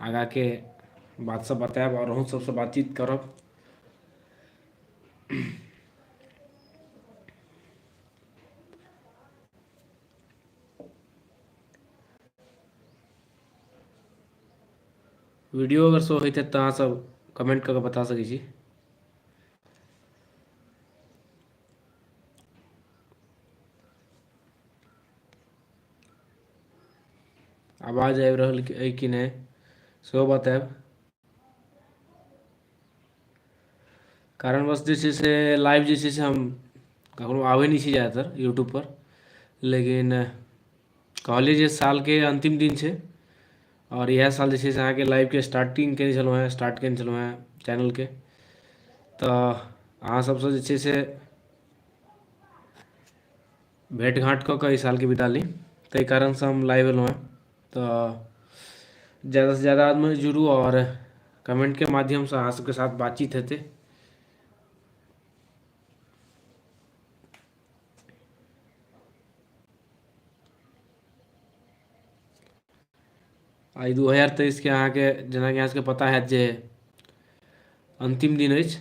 आगा के बात सब बतायब और अहूँ सबसे बातचीत करब वीडियो अगर शो होते तो अहाँ सब कमेंट करके बता सकै छी आवाज आबि रहल अइ कि नहि सेहो बतायब कारणवश जे छै से लाइव जे छै से हम कखनो आबै नहि छी जादातर यूट्यूबपर लेकिन कहलियै जे सालके अन्तिम दिन छै आओर इएह साल जे छै से अहाँके लाइवके स्टार्टिंग कयने छलहुँ हेँ स्टार्ट कयने छलहुँ हेँ चैनलके तऽ अहाँ सभसँ जे छै से भेट घाँट कऽ कऽ एहि सालके बिता ली ताहि कारणसँ हम लाइव अएलहुँ हँ तऽ ज्यादासँ ज्यादा आदमी जुड़ू आओर कमेन्टके माध्यमसँ अहाँ सबके साथ बातचीत हेतै आइ दू हजार तेइसके अहाँके जेनाकि अहाँ सबके पता हैत जे अन्तिम दिन अछि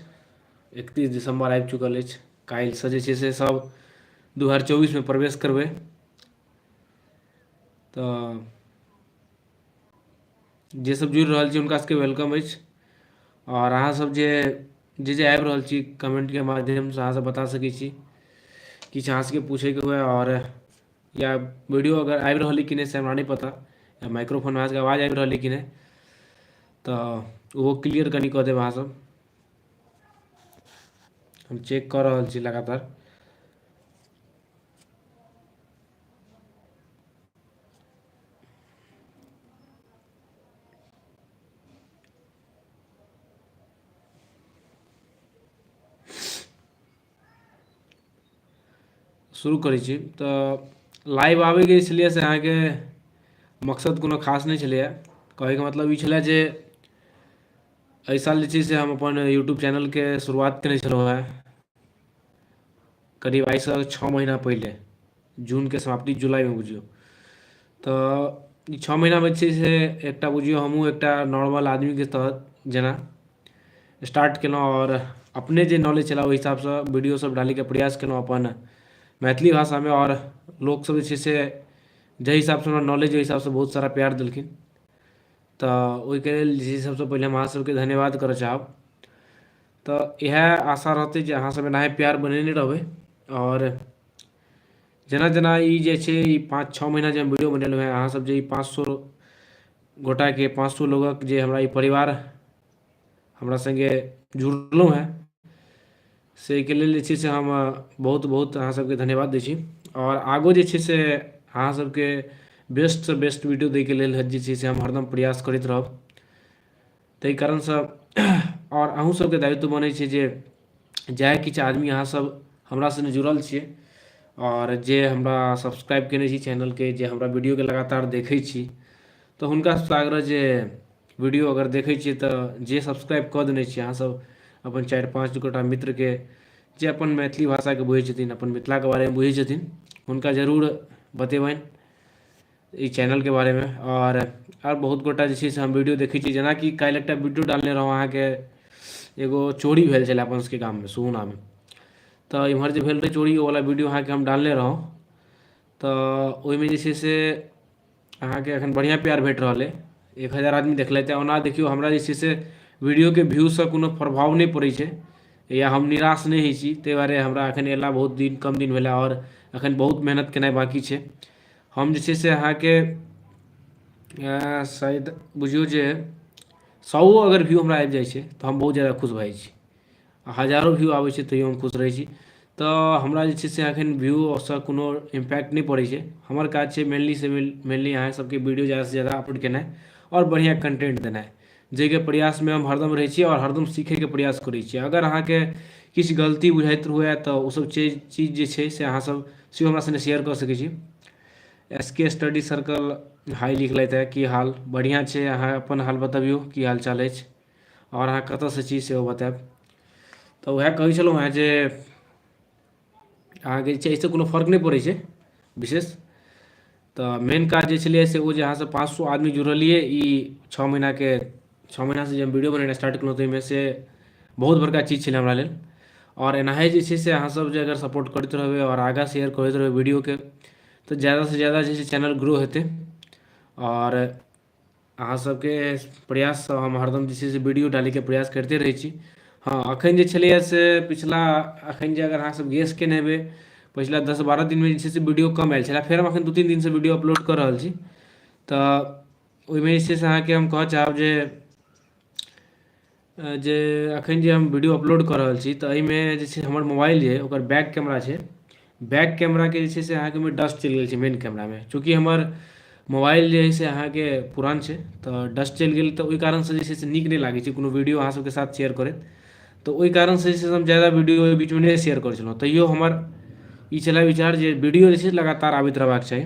एकतीस दिसम्बर आबि चुकल अछि काल्हिसँ जे छै से सब दू हजार चौबीसमे प्रवेश करबै तऽ जे सब जुड़ि रहल छी हुनका सबके वेलकम अछि आओर अहाँ सब जे जे जे आबि रहल छी कमेन्टके माध्यमसँ अहाँ सब बता सकै छी किछु अहाँ सबके पूछैके हुए आओर या वीडियो अगर आबि रहल कि नहि से हमरा नहि पता या माइक्रोफोन अहाँसभके आवाज आबि रहल कि नहि तऽ ओहो क्लियर कनि कऽ देब अहाँसभ हम चेक कऽ रहल छी लगातार शुरू करै छी तऽ लाइव आबैके छलियै से अहाँके मकसद कोनो खास नहि छलैए कहैके मतलब ई छलए जे एहि साल जे छै से हम अपन यूट्यूब चैनलके शुरुआत कयने छलहुँ हेँ करीब आइसँ छओ महीना पहिले जूनके समाप्ति जुलाइमे बुझियौ तऽ ई छओ महीनामे छै से एकटा बुझियौ हमहूँ एकटा नॉर्मल आदमीके तहत जेना स्टार्ट केलहुँ आओर अपने जे नॉलेज छलए ओहि हिसाबसँ वीडियोसभ डालयके प्रयास केलहुँ अपन मैथिली भाषामे आओर लोकसभ जे छै से जाहि हिसाबसँ हमरा नॉलेज ओहि हिसाबसँ बहुत सारा प्यार देलखिन तऽ ओहिके लेल जे छै से सभसँ पहिले हम अहाँसभके धन्यवाद करय चाहब तऽ इएह आशा रहतै जे अहाँसभ एनाहे प्यार बनेने रहबै आओर जेना जेना ई जे छै ई पाँच छओ महीना जे हम वीडियो बनेलहुँ हेँ अहाँसभ जे ई पाँच सए गोटाके पाँच सए लोगक जे हमरा ई परिवार हमरा सङ्गे जुड़लहुँ हेँ से एहिके लेल जे छै से हम बहुत बहुत अहाँसभके धन्यवाद दै छी आओर आगू जे छै से अहाँसभके बेस्टसँ बेस्ट वीडियो दैके लेल जे छै से हम हरदम प्रयास करैत रहब ताहि कारणसँ आओर अहूँसभके दायित्व बनै छै जे जएह किछु आदमी अहाँसभ हमरा सङ्गे जुड़ल छियै आओर जे हमरा सब्सक्राइब कयने छी चैनलके जे हमरा वीडियोके लगातार देखै छी तऽ हुनकासभसँ आग्रह जे वीडियो अगर देखै छियै तऽ जे सब्सक्राइब कऽ देने छियै अहाँसभ अपन चारि पाँच गोटा मित्रके जे अपन मैथिली भाषाके बुझै छथिन अपन मिथिलाके बारेमे बुझै छथिन हुनका जरूर बतेबनि ई चैनलके बारेमे आओर आओर बहुत गोटा जे छै से हम वीडियो देखै छियै जेनाकि काल्हि एकटा वीडियो डालने रहौं अहाँके एगो चोरी भेल छलै अपन सबके गाममे सुगुनामे तऽ एम्हर जे भेल रहै चोरी ओवला वीडियो अहाँके हम डालने रहौं तऽ ओइमे जे छै से अहाँके एखन बढ़िआँ प्यार भेट रहल अइ एक हजार आदमी देखलथि हँ ओना देखियौ हमरा जे छै से वीडियोके व्यूसँ कोनो प्रभाव नहि पड़ै छै या हम निराश नहि होइ छी तै दुआरे हमरा एखन अयला बहुत दिन कम दिन भेला आओर एखन बहुत मेहनत केनाइ बाँकी छै हम जे छै से अहाँके अ शायद बुझियौ जे सौ अगर व्यू हमरा आबि जाइ छै तऽ हम बहुत जादा खुश भऽ जाइ छी आ हजारो व्यू आबै छै तैयो हम खुश रहै छी तऽ हमरा जे छै से एखन व्यू सँ कोनो इम्पैक्ट नहि पड़ै छै हमर काज छै मेनली से मेनली अहाँ सबके वीडियो जादा सँ जादा अपलोड केनाइ आओर बढ़िआँ कन्टेन्ट देनाइ जाहिके प्रयासमे हम हरदम रहै छी आओर हरदम सीखैके प्रयास करै छी अगर अहाँके किछु गलती बुझाइत हुए तऽ ओसभ छै चीज जे छै से अहाँसभ सेहो हमरा सङ्गे शेयर कऽ सकै छी S K study circle hi लिखलथि हेँ की हाल बढ़िआँ छै अहाँ अपन हाल बतबियौ की हाल चाल अछि आओर अहाँ कतयसँ छी सेहो बतायब तऽ उएह कहै छलहुँ हेँ जे अहाँके जे छै एहिसँ कोनो फर्क नहि पड़ै छै विशेष तऽ मेन काज जे छलै से ओ जे अहाँसँ पाँच सए आदमी जुड़लियै ई छओ महीनाके छओ महीनासँ जे हम वीडियो बनेनाइ स्टार्ट केलहुँ ताहिमे से बहुत बड़का चीज छलै हमरा लेल आओर एनाहे जे छै से अहाँसभ जे अगर सपोर्ट करैत रहबै आओर आगाँ शेयर करैत रहबै वीडियोके तऽ ज्यादासँ ज्यादा जे छै चैनल ग्रो हेतै आओर अहाँ सबके प्रयाससँ हम हरदम जे छै से वीडियो डालैके प्रयास करिते रहै छी हँ एखन जे छलैए से पिछला एखन जे अगर अहाँसब गेस केने हेबै पछिला दस बारह दिनमे जे छै से वीडियो कम आएल छलै फेर हम एखन दुइ तीन दिनसँ वीडियो अपलोड कऽ रहल छी तऽ ओहिमे जे छै से अहाँके हम कहऽ चाहब जे जे एखन जे हम वीडियो अपलोड कऽ रहल छी तऽ एहिमे जे छै हमर मोबाइल जे ओकर बैक कैमरा छै बैक कैमराके जे छै से अहाँके ओहिमे डस्ट चलि गेल छै मेन कैमरामे चूँकि हमर मोबाइल जे हइ से अहाँके पुरान छै तऽ डस्ट चलि गेल तऽ ओहि कारणसँ जे छै से नीक नहि लागै छै कोनो वीडियो अहाँसभके साथ शेयर करैत तऽ ओहि कारणसँ जे छै से हम ज्यादा वीडियो ओहि बीचमे नहि शेयर करै छलहुँ तैओ हमर ई छलय विचार जे वीडियो जे छै लगातार आबैत रहबाक चाही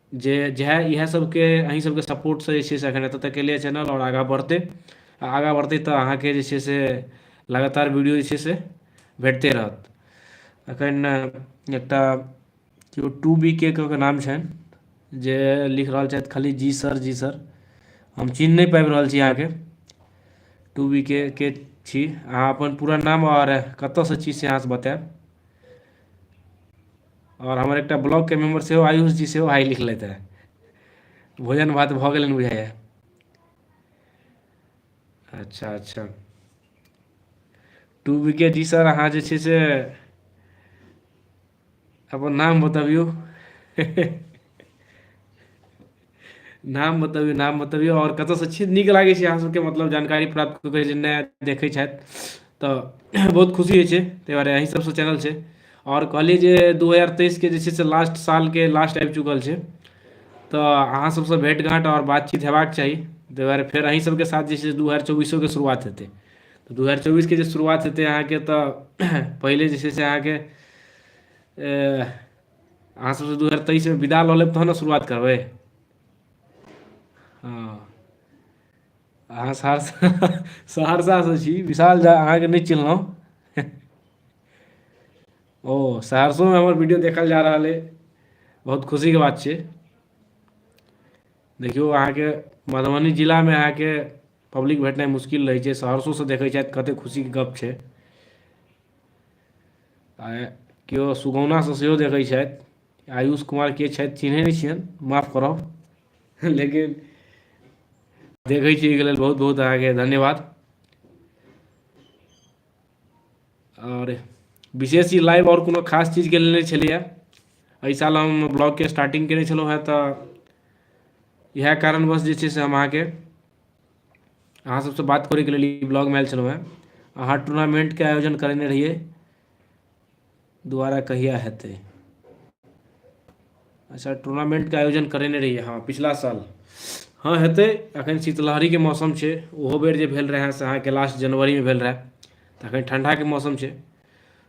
जे जएह इएह सभके अहीँ सभके सपोर्टसँ जे छै से एखन एतऽ तक अएलैए चैनल आओर आगाँ बढ़तै आओर आगाँ बढ़तै तऽ अहाँके जे छै से लगातार वीडिओ जे छै से भेटिते रहत एखन एकटा केओ टू बी के कऽ कऽ नाम छनि जे लिखि रहल छथि खाली जी सर जी सर हम चिन्ह नहि पाबि रहल छी अहाँके टू बी के के छी अहाँ अपन पूरा नाम आओर कतऽसँ छी से अहाँ बताएब आओर हमर एकटा ब्लॉकके मेम्बर सेहो आयुष जी सेहो आइ लिखलथि हेँ भोजन भात भऽ गेलनि बुझाइए अच्छा अच्छा टू विकेट जी सर अहाँ जे छै से अपन नाम बतबियौ नाम बतबियौ नाम बतबियौ आओर कतयसँ छी नीक लागै छै अहाँ सभके मतलब जानकारी प्राप्त कऽ कऽ जे नया देखै छथि तऽ बहुत खुशी होइ छै ताहि दुआरे अही सभसँ चैनल छै आओर कहलियै जे दू हजार तेइसके जे छै से लास्ट सालके लास्ट आबि चुकल छै तऽ अहाँ सभसँ भेँट घाँट आओर बातचीत हेबाक चाही ताहि दुआरे फेर अही सभके साथ जे छै से दू हजार चौबीसोके शुरुआत हेतै तऽ दू हजार चौबीसके जे शुरुआत हेतै अहाँके तऽ पहिले जे छै से अहाँके अहाँ सबसँ दू हजार तेइसमे विदा लऽ लेब तहन ने शुरुआत करबै हँ अहाँ सहरसा सहरसासँ छी विशाल झा अहाँके नहि चिन्हलौं ओ सहरसोमे हमर वीडियो देखल जा रहल अइ बहुत खुशीके बात छै देखियौ अहाँके मधुबनी जिलामे अहाँके पब्लिक भेटनाइ मुश्किल रहै छै सहरसोसँ देखै छथि कतेक खुशीके गप्प छै आँय केओ सुगौनासँ सेहो देखै छथि आयुष कुमार के छथि चिन्है नहि छियनि माफ करब लेकिन देखै छी एहिके लेल बहुत बहुत अहाँके धन्यवाद आओर विशेष ई लाइव आओर कोनो खास चीजके लेल नहि छलैए एहि साल हम ब्लॉगके स्टार्टिंग कयने छलहुँ हेँ तऽ इएह कारणवश जे छै से हम अहाँके अहाँ सबसँ बात करैके लेल ई ब्लॉगमे आयल छलहुँ हेँ अहाँ टूर्नामेंटके आयोजन करेने रहियै दुबारा कहिया हेतै अच्छा टूर्नामेंटके आयोजन करेने रहियै हँ पिछला साल हँ हेतै एखन शीतलहरीके मौसम छै ओहो बेर जे भेल रहए से अहाँके लास्ट जनवरीमे भेल रहए तऽ एखन ठण्डाके मौसम छै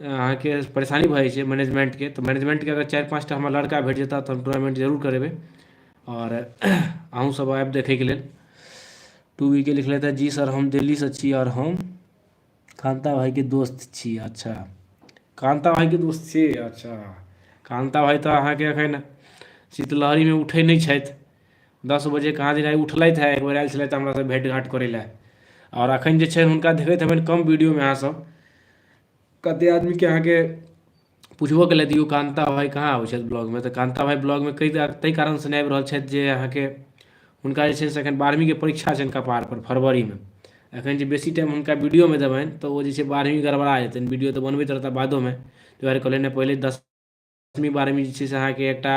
अहाँके परेशानी भऽ जाइ छै मैनेजमेन्टके तऽ मैनेजमेन्टके अगर चारि पाँचटा हमरा लड़का भेट जेता तऽ हम टूर्नामेन्ट जरूर करेबै आओर अहूँसभ आयब देखयके लेल टू वीके लिखलथि हँ जी सर हम दिल्लीसँ छी आओर हम कान्ता भाइके दोस्त छी अच्छा कान्ता भाइके दोस्त छी अच्छा कान्ता भाइ तऽ अहाँके एखन शीतलहरीमे उठै नहि छथि दस बजे कहाँ दिन आइ उठलथि हँ एकबेर आयल छलथि हमरासँ भेँटघाँट करै लए आओर एखन जे छै हुनका देखैत हेबनि कम वीडियोमे अहाँसभ कतेक आदमीके अहाँके पुछबो केलथि यौ कान्ता भाइ कहाँ आबै छथि ब्लॉगमे तऽ कान्ता भाइ ब्लॉगमे कइ ताहि कारणसँ नहि आबि रहल छथि जे अहाँके हुनका जे छै से एखन बारहवींके परीक्षा छनि कपारपर फरवरीमे एखन जे बेसी टाइम हुनका वीडियोमे देबनि तऽ ओ जे छै बारहवीं गड़बड़ा जेतनि वीडियो तऽ बनबैत रहता बादोमे ताहि दुआरे कहलियनि पहिले दस दसमी बारहमी जे छै से अहाँके एकटा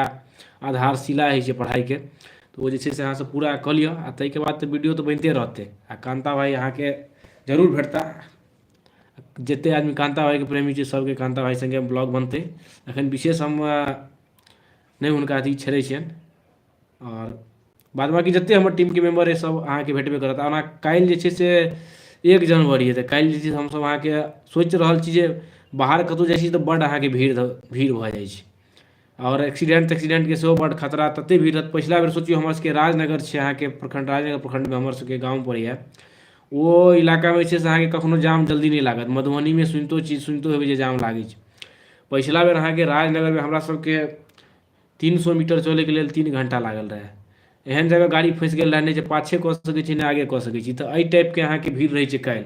आधारशिला होइ छै पढ़ाइके तऽ ओ जे छै से अहाँसँ पूरा कऽ लिअ आ ताहिके बाद तऽ वीडियो तऽ बनिते रहतै आ कान्ता भाइ अहाँके जरूर भेटता जतेक आदमी कान्ता भाइके प्रेमी छै सभके कान्ता भाइ सङ्गे ब्लॉग बनतै एखन विशेष हम नहि हुनका अथी छेड़ै छियनि आओर बाद बाँकी जतेक हमर टीमके मेम्बर अइ सभ अहाँके भेटबे करत ओना काल्हि जे छै से एक जनवरी अइ तऽ काल्हि जे छै से हमसभ अहाँके सोचि रहल छी जे बाहर कतहु जाइ छी तऽ बड्ड अहाँके भीड़ धऽ भीड़ भऽ जाइ छै आओर एक्सीडेंट तेक्सीडेंटके सेहो बड्ड खतरा ततेक भीड़ रहत पछिला बेर सोचियौ हमरसभके राजनगर छै अहाँके प्रखंड राजनगर प्रखंडमे हमरसभके गाम पड़ैए ओ इलाकामे जे छै से अहाँके कखनहु जाम जल्दी नहि लागत मधुबनीमे सुनितो छी सुनितो हेबै जे जाम लागै छै पछिला बेर अहाँके राजनगरमे हमरासभके तीन सए मीटर चलैके लेल तीन घण्टा लागल रहए एहन जगह गाड़ी फँसि गेल रहए नहि जे पाछे कऽ सकै छी नहि आगे कऽ सकै छी तऽ एहि टाइपके अहाँके भीड़ रहै छै काल्हि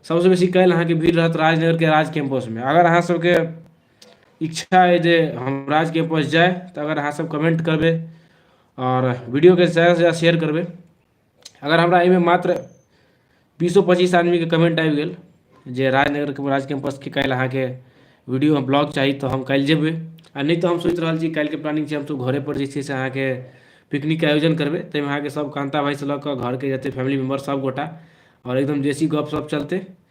सभसँ बेसी काल्हि अहाँके भीड़ रहत राजनगरके राज कैम्पसमे अगर अहाँसभके इच्छा अइ जे हम राज कैम्पस जाय तऽ अगर अहाँसभ कमेंट करबै आओर वीडियोकेँ ज्यादासँ ज्यादा शेयर करबै अगर हमरा एहिमे मात्र बीसो पच्चीस आदमीके कमेंट आबि गेल जे राजनगरके राज कैम्पसके काल्हि अहाँके वीडियो ब्लॉग चाही तऽ हम काल्हि जेबै आ नहि तऽ हम सोचि रहल छी काल्हिके प्लानिंग छै हमसभ घरेपर जे छै से अहाँके पिकनिकके आयोजन करबै ताहिमे अहाँके सभ कान्ता भाइसँ लऽ कऽ घरके जतेक फैमिली मेम्बर सभगोटा आओर एकदम देशी गपशप चलतै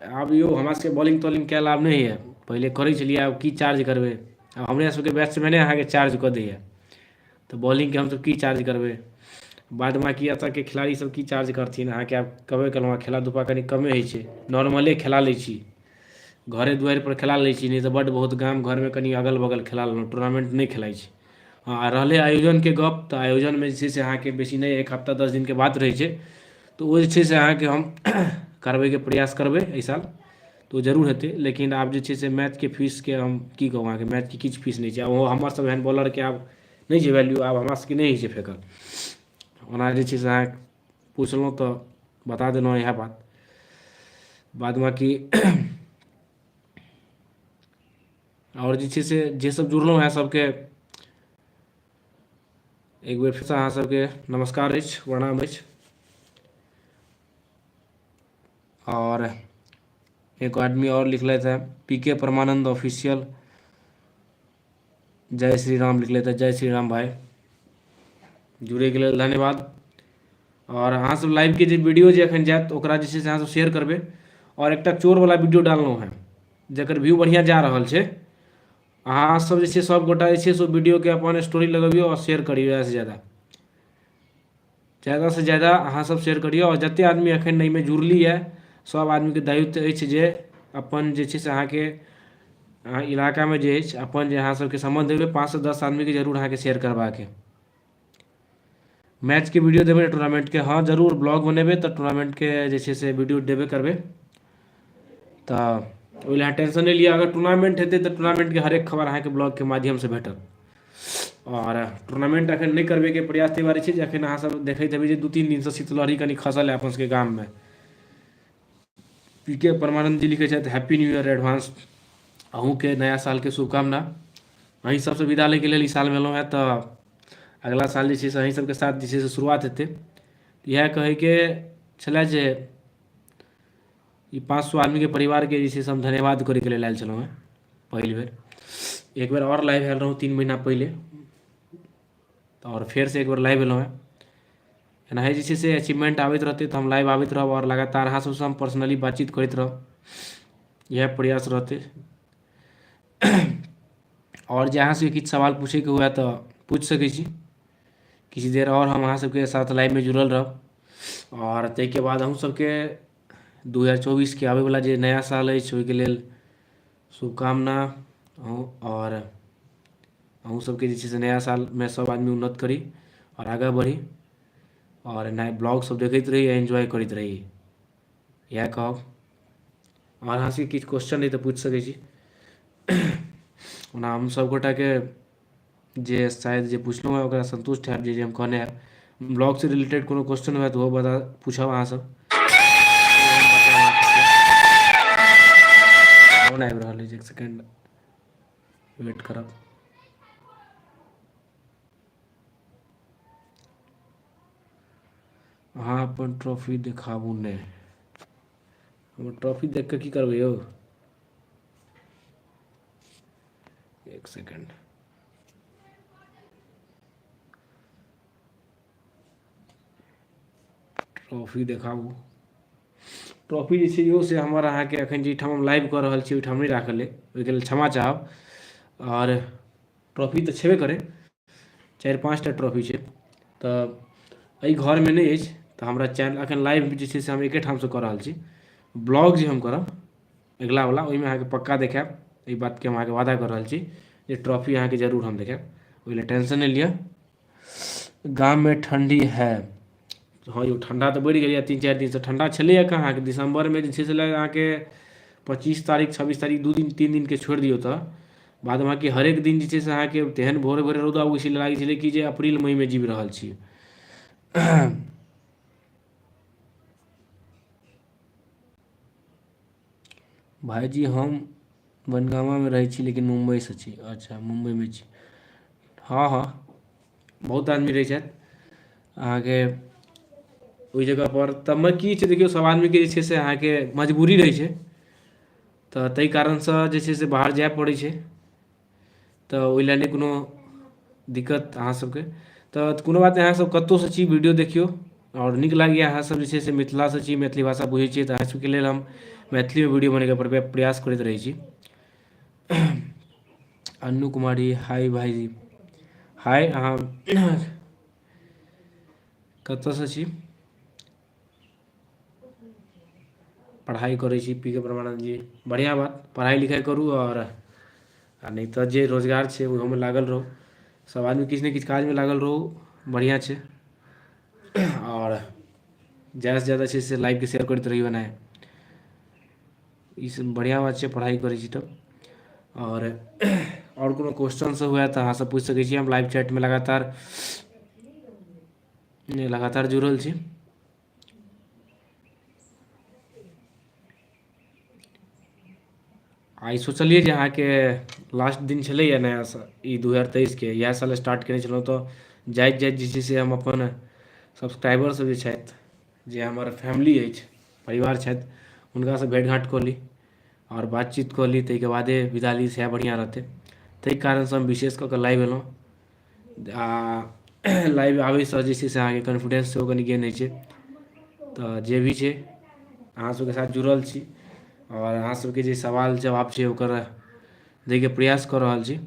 आब यौ हमरा सबके बॉलिंग तॉलिंग कयल आब नहि होइए पहिले करै छलियै आब की चार्ज करबै आब हमरा सबके बैट्समैने अहाँके चार्ज कऽ दैए तऽ बॉलिंगके हमसब की चार्ज करबै बाद बाकी एतऽके खिलाड़ी सब की चार्ज करथिन अहाँके आब कहबे केलहुँ हँ खेला धूपा कनी कमे होइ छै नॉर्मले खेला लै छी घरे दुआरिपर खेला लै छी नहि तऽ बड्ड बहुत गाम घरमे कनी अगल बगल खेला लेलहुँ टूर्नामेन्ट नहि खेलाइ छी हँ आ रहलै आयोजनके गप तऽ आयोजनमे जे छै से अहाँके बेसी नहि एक हफ्ता दस दिनके बात रहै छै तऽ ओ जे छै से अहाँके हम करबैके प्रयास करबै एहि साल तऽ ओ जरूर हेतै लेकिन आब जे छै से मैचके फीसके हम की कहू अहाँके मैचके किछु फीस नहि छै आ ओ हमरसभ एहन बॉलरके आब नहि छै वैल्यू आब हमरा सभके नहि होइ छै फेकल ओना जे छै से अहाँ पुछलहुँ तऽ बता देलहुँ इएह बात बाद बाँकी आओर जे छै से जे सब जुड़लहुँ अहाँ सबके एक बेर फेरसँ अहाँ सबके नमस्कार अछि प्रणाम अछि आओर एगो आदमी आओर लिखलथि हे पी के परमानन्द ऑफिसियल जय श्री राम लिखले तऽ जय श्री राम भाय जुड़ैके लेल धन्यवाद आओर अहाँसभ लाइवके जे वीडियो जे एखन जायत ओकरा जे छै से अहाँसभ शेयर करबै आओर एकटा चोरवला वीडियो डाललहुँ हेँ जकर व्यू बढ़िआँ जा रहल छै अहाँसभ जे छै सभगोटा जे छै से ओ वीडियोके अपन स्टोरी लगबियौ आओर शेयर करियौ ज्यादासँ ज्यादा ज्यादासँ ज्यादा अहाँसभ शेयर करियौ आओर जतेक आदमी एखन एहिमे जुड़लियै सभ आदमीके दायित्व अछि जे अपन जे छै से अहाँके अहाँ इलाकामे जे अछि अपन जे अहाँसभके सम्बन्ध अइ ओहिमे पाँचसँ दस आदमीके जरूर अहाँके शेयर करबाक अइ मैचके वीडियो देबै टूर्नामेंटके हँ जरूर ब्लॉग बनेबै तऽ टूर्नामेंटके जे छै से वीडियो देबे करबै तऽ ओहि लए टेंशन नहि लिअ अगर टूर्नामेंट हेतै तऽ टूर्नामेंटके हरेक खबर अहाँके ब्लॉगके माध्यमसँ भेटत आओर टूर्नामेंट एखन नहि करबैके प्रयास ताहि दुआरे छै जे एखन अहाँसभ देखैत हेबै जे दू तीन दिनसँ शीतलहरी कनि खसल है अपन सभके गाममे पी के परमानंद जी लिखे छथि हैप्पी न्यू ईयर एडवांस अहूँके नया सालके शुभकामना अहीं सबसँ विदा लैके लेल ई साल भेलहुँ हँ तऽ अगिला साल जे छै से अहीं सबके साथ जे छै से शुरुआत हेतै इएह कहैके छलै जे ई पाँच सए आदमीके परिवारके जे छै से हम धन्यवाद करैके लेल आयल छलहुँ हँ पहिल बेर एक बेर आओर लाइव आयल रहौँ तीन महीना पहिले तऽ आओर फेरसँ एक बेर लाइव भेलहुँ हँ एनाही जे छै से अचीवमेन्ट आबैत रहतै तऽ हम लाइव आबैत रहब आओर लगातार अहाँ सबसँ हम पर्सनली बातचीत करैत रहब इएह प्रयास रहतै आओर जे अहाँ सबके किछु सवाल पूछैके हुए तऽ पूछि सकै छी किछु देर आओर हम अहाँ सबके साथ लाइवमे जुड़ल रहब आओर ताहिके बाद अहूँ सबके दू हजार चौबीसके आबैवला जे नया साल अछि ओहिके लेल शुभकामना अहूँ आओर अहूँ सबके जे छै से नया सालमे सब आदमी उन्नत करी आओर आगाँ बढ़ी आओर एना ब्लॉग सब देखैत रही आओर एन्जॉय करैत रही इएह कहब आओर अहाँ सबके किछु क्वेश्चन अइ तऽ पूछि सकै छी ओना हम सब गोटाके जे शायद जे पुछलहुँ हेँ ओकरा सन्तुष्ट हैब जे जे हम कहने हैब ब्लॉगसँ रिलेटेड कोनो क्वेश्चन हुए तऽ ओहो बता पूछब अहाँसभ फोन आबि रहल अछि एक सेकेंड वेट करब अहाँ अपन ट्रॉफी देखाबू नहि हमर ट्रॉफी देख कऽ की करबै यौ एक सेकेंड ट्रॉफी देखाबू ट्रॉफी जे छै इहो से हमर अहाँके एखन जाहिठाम हम लाइव कऽ रहल छी ओहिठाम नहि राखल अइ ओहिके लेल क्षमा चाहब आओर ट्रॉफी तऽ छेबे करै चारि पाँच टा ट्रॉफी छै तऽ एहि घरमे नहि अछि तऽ हमरा चैनल एखन लाइव जे छै से हम एके ठामसँ कऽ रहल छी ब्लॉग जे हम करब अगिलावला ओहिमे अहाँके पक्का देखाएब एहि बातके हम अहाँके वादा कऽ रहल छी जे ट्रॉफी अहाँके जरूर हम देखाएब ओहि लए टेंशन नहि लिअ गाममे ठण्डी है हँ यौ ठण्डा तऽ बढ़ि गेलैए तीन चारि दिनसँ ठण्डा छलैए कहाँ अहाँके दिसम्बरमे जे छै से लगैए अहाँके पच्चीस तारीख छब्बीस तारीख दू दिन तीन दिनके छोड़ि दियौ तऽ बाद बाँकी हरेक दिन जे छै से अहाँके तेहन भोरे भोरे रौदा उगै छलै लागै छलै कि जे अप्रिल मइमे जीवि रहल छी भाइजी हम बनगामामे रहै छी लेकिन मुम्बइसँ छी अच्छा मुम्बइमे छी हँ हँ बहुत आदमी रहै छथि अहाँके ओहि जगहपर तबमे की छै देखियौ सभ आदमीके जे छै से अहाँके मजबूरी रहै छै तऽ ताहि कारणसँ जे छै से बाहर जाय पड़ै छै तऽ ओहि लए नहि कोनो दिक्कत अहाँ सभके तऽ कोनो बात नहि अहाँसभ कतहुसँ छी वीडियो देखियौ आओर नीक लागैए अहाँसभ जे छै से मिथिलासँ छी मैथिली भाषा बुझैत छियै तऽ अहाँसभके लेल हम मैथिलीमे वीडियो बनबैके प्रया प्रयास करैत रहै छी अन्नू कुमारी हाय भाइजी हाय अहाँ कतयसँ छी पढ़ाइ करै छी पी के परमानन्द जी बढ़िआँ बात पढ़ाइ लिखाइ करू आओर आ नहि तऽ जे रोजगार छै ओहोमे लागल रहू सभ आदमी किछु ने किछु काजमे लागल रहू बढ़िआँ छै आओर ज्यादासँ ज्यादा छै से लाइफके शेयर करैत रहियौ एनाहे ई सब बढ़िआँ बात छै पढ़ाइ करै छी तऽ आओर आओर कोनो क्वेश्चन सब हुए तऽ अहाँसँ पूछि सकै छी हम लाइव चैटमे लगातार नहि लगातार जुड़ल छी आइ सोचलियै जे अहाँके लास्ट दिन छलैए नया साल ई दू हजार तेइसके इएह साल स्टार्ट कयने छलहुँ तऽ जाइत जाइत जे छै से हम अपन सब्सक्राइबरसभ जे छथि जे हमर फैमिली अछि परिवार छथि हुनकासँ भेँट घाँट कऽ ली आओर बातचीत कऽ ली ताहिके बादे विदा ली सएह बढ़िआँ रहतै ताहि कारणसँ हम विशेष कऽ कऽ लाइव अएलहुँ आओर लाइव आबैसँ जे छै से अहाँके कॉन्फिडेन्स सेहो कनि गेन होइ छै तऽ जे भी छै अहाँसभके साथ जुड़ल छी आओर अहाँसभके जे सवाल जवाब छै ओकर दैके प्रयास कऽ रहल छी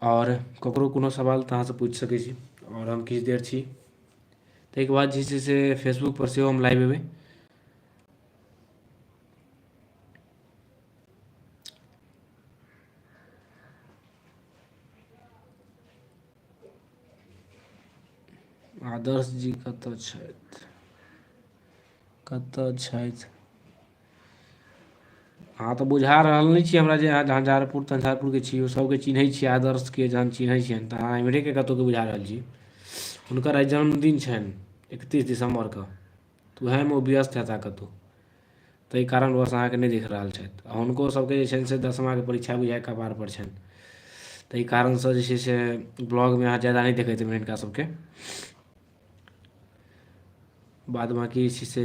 आओर ककरो कोनो सवाल तऽ अहाँसँ पूछि सकै छी आओर हम किछु देर छी ताहिके बाद जे छै से फेसबुकपर सेहो हम लाइव अएबै आदर्श जी कतऽ छथि कतऽ छथि अहाँ तऽ बुझा रहल नहि छी हमरा जे अहाँ झंझारपुर तंझारपुरके छी ओ सभके चिन्है छी आदर्शके जहन चिन्है छियनि तऽ अहाँ एम्हरेके कतहुँके बुझा रहल छी हुनकर आइ जन्मदिन छनि एकतीस दिसम्बरके तऽ उएहमे ओ व्यस्त हेताह कतहु ताहि कारणवश अहाँके नहि देख रहल छथि आ हुनको सभके जे छनि से दसमाके परीक्षा बुझाइए कपारपर छनि ताहि कारणसँ जे छै से ब्लॉगमे अहाँ ज्यादा नहि देखैत हेबै हिनका सभके बाद बाँकी जे छै से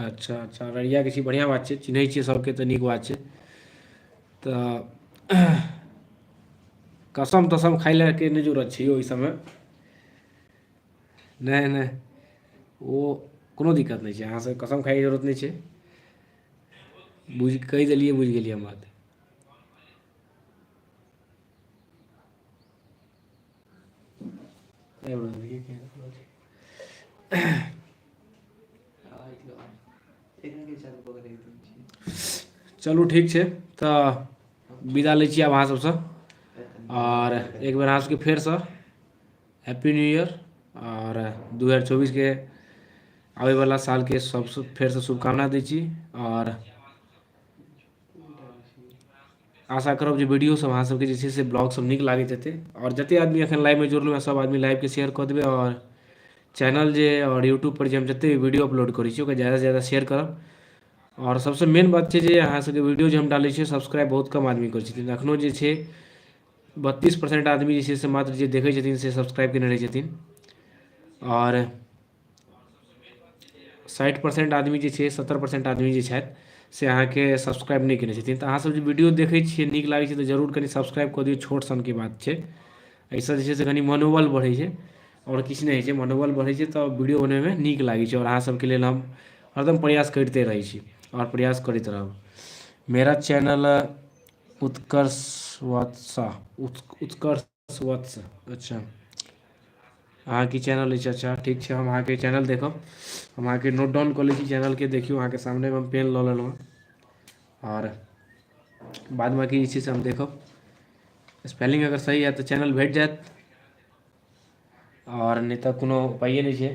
अच्छा अच्छा अररियाके छी बढ़िआँ बात छै चिन्है छियै सभके तऽ नीक बात छै तऽ कसम तसम खाय लए के नहि जरूरत छै ओहि सभमे नहि नहि ओ कोनो दिक्कत नहि छै अहाँसभ कसम खायके जरूरत नहि छै बुझि कहि देलियै बुझि गेलियै हम बात चलू ठीक छै तऽ विदा लै छी आब अहाँ सबसँ आओर एक बेर अहाँ सबके फेरसँ हैप्पी न्यू ईयर आओर दू हजार चौबीसके आबैवला सालके सबसँ फेरसँ शुभकामना दै छी आओर आशा करब जे वीडियोसभ अहाँसभके जे छै से ब्लॉगसभ नीक लागैत हेतै आओर जतेक आदमी एखन लाइवमे जुड़लहुँ हेँ सभ आदमी लाइवके शेयर कऽ देबै आओर चैनल जे आओर यूट्यूबपर जे हम जतेक भी वीडियो अपलोड करै छी ओकरा ज्यादासँ ज्यादा शेयर करब आओर सभसँ मेन बात छै जे अहाँसभके वीडियो जे हम डालै छियै सब्सक्राइब बहुत कम आदमी करै छथिन एखनहु जे छै बत्तीस परसेंट आदमी जे छै से मात्र जे देखै छथिन से सब्सक्राइब कयने रहै छथिन आओर साठि परसेन्ट आदमी जे छै सत्तरि परसेन्ट आदमी जे छथि से अहाँके सब्सक्राइब नहि कयने छथिन तऽ अहाँसभ जे वीडियो देखै छियै नीक लागै छै तऽ जरूर कनि सब्सक्राइब कऽ दियौ छोट सनके बात छै एहिसँ जे छै से कनि मनोबल बढ़ै छै आओर किछु नहि होइ छै मनोबल बढ़ै छै तऽ वीडियो बनबैमे नीक लागै छै आओर अहाँसभके लेल हम हरदम प्रयास करिते रहै छी आओर प्रयास करैत रहब मेरा चैनल उत्कर्ष वात्सह उत्कर्ष वत्स अच्छा अहाँके चैनल अछि अच्छा ठीक छै हम अहाँके चैनल देखब हम अहाँके नोट डाउन कऽ लै छी चैनलके देखियौ अहाँके सामनेमे हम पेन लऽ लेलहुँ हँ आओर बाद बाँकी जे छै से हम देखब स्पेलिंग अगर सही हएत तऽ चैनल भेट जायत आओर नहि तऽ कोनो उपाइए नहि छै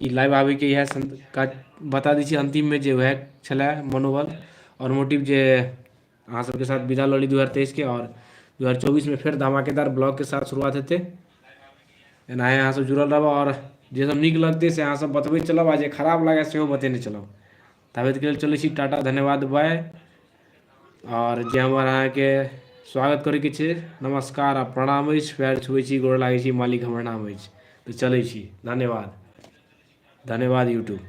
ई लाइव आबैके इएह सं- काज बता दै छी अन्तिममे जे उएह छलए मनोबल आओर मोटिव जे अहाँ सबके साथ विदा लऽ ली दू हजार तेइसके आओर दू हजार चौबीसमे फेर धमाकेदार ब्लॉगके साथ शुरुआत हेतै एनाहे अहाँसभ जुड़ल रहब आओर जे सब नीक लगतै से अहाँसभ बतबैत चलब आ जे खराब लागए सेहो बतेने चलब ताबेत के लेल चलै छी टाटा धन्यवाद बाय आओर जे हमर अहाँके स्वागत करैके छै नमस्कार आ प्रणाम अछि पैर छुबै छी गोर लागै छी मालिक हमर नाम अछि तऽ चलै छी धन्यवाद धन्यवाद यूट्यूब